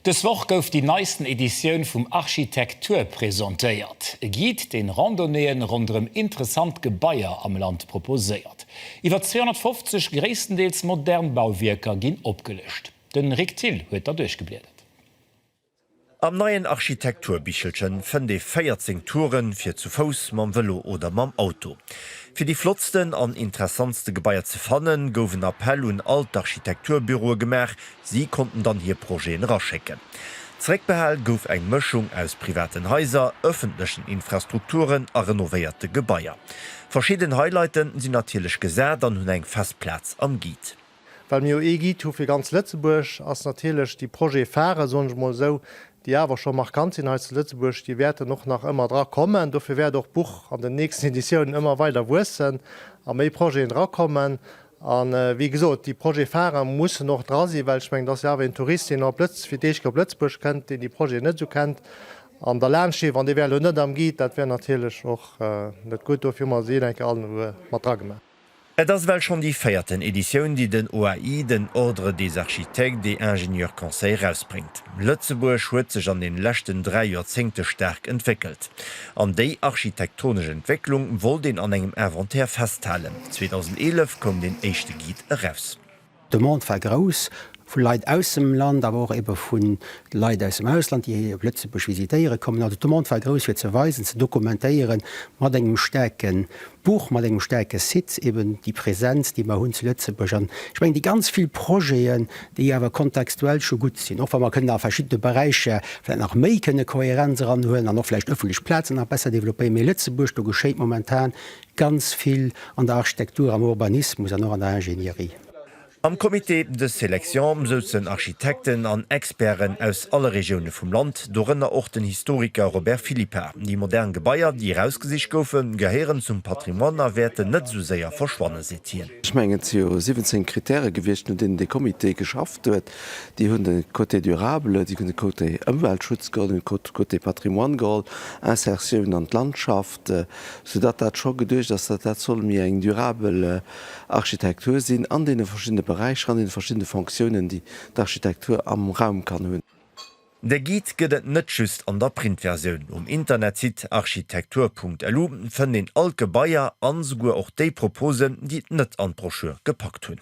Dës Woch gouf déi neisten Editioun vum Architektur presentéiert, e Guide, deen Randonnéeën ronderëm interessant Gebaier am Land proposéiert. Iwwer 250 gréisstendeels modern Bauwierker ginn opgelëscht. De Rick Thill huet der duerchgebliedert. Am neien Architekturbichelche fënnt ee 14 Touren, fir zu Fouss, mam Vëlo oder mam Auto. Fir déi flottsten an interessantste Gebaier ze fannen, gouf en Appell un all d'Architekturbüroe gemaach, Si konnten dann hir Projeten eraschécken. Zeréckbehal gouf eng Mëschung aus privaten Haiser, ëffentlechen Infrastrukturen a renovéierte Gebaier. Verschidden Highlighten sinn natierlech gesat an hunn eng fest Plaz am Guide. Well mir jo ee Guide hu fir ganz Lëtzebuerg, ass natierlech déi Projet-Pharen, soen ech mol esou, déi awer scho markant sinn hei zu Lëtzebuerg, déi wäerten och nach ëmmer dra kommen. Dofir wäert och d'Buch an den nächsten Editiounen ëmmer weider wuessen a méi Projeten drakommen. A wéi gesot, déi Projet-Pharen mussen och dra sinn, well ech mengen, et ass jo awer een Tourist, deen op Lëtz-, fir d'éischt op Lëtzebuerg kënnt, deen déi Projeten net esou kennt. An derlaanscht stinn, wann dee wär elo net am Guide, dat wär natierlech och net gutt. Dofir hu mer se een-enke all en Uer mat dra gemaach. Et ass ewell schonn déi véierten Editioun, déi den OAI, den Ordre des architectes et ingénieurs conseils, erausbréngt. Lëtzebuerg huet sech an den leschten dräi Joerzéngte staark entwéckelt. An déi architektonesch Entwécklung wollt een an engem Inventaire festhalen. 2011 koum deen éischte Guide eraus. D'Demande war grouss, vu Leit aus dem Land, awer och ebe vu Leit aus dem Ausland, déi hei op Lëtzebuerg visitéiere kommen. Also d'Demande war grouss, fir ze weisen, ze dokumentéieren, mat engem staarken D'Buch mat engem staarke Site, eben déi Präsenz, déi mer hunn zu Lëtzebuerg, an ech mengen déi ganz vill Projeten, déi awer kontextuell scho gutt sinn, och wa mer kënnen a verschiddene Beräicher vläicht nach méi kënne Kohärenz eranhuelen an och vläicht ëffentlech Plazen nach besser développéieren, mee Lëtzebuerg, do geschéit momentan ganz vill an der Architektur, am Urbanismus an och an der Ingénierie. Am Comité de sélection souzen Architekten an Experten aus alle Regioune vum Land, dorënner och den Historiker Robert Philippa. Déi modern Gebaier, déi erausgesicht goufen, gehéieren zum Patrimoine a wäerten net esou séier verschwannen, seet hien. Ech mengen, et si jo 17 Krittäre gewiescht, no deenen dee Comité geschafft huet. Déi hunn de Côté durable, déi hunn de Côté Ëmweltschutz geholl, déi hunn de Côté Patrimoine geholl, Insertioun an d'Landschaft, soudatt dat scho geduecht ass, datt dat soll méi eng durabel Architektur sinn an deene verschiddene Beräicher, an deene verschiddene Fonctiounen, déi d'Architektur am Raum kann hunn. De Guide gëtt et net just an der Printversioun. Um Internetsite architektur.lu fënnt een all d'Gebaier an esouguer och déi Proposen, déi et net an d'Broschür gepackt hunn.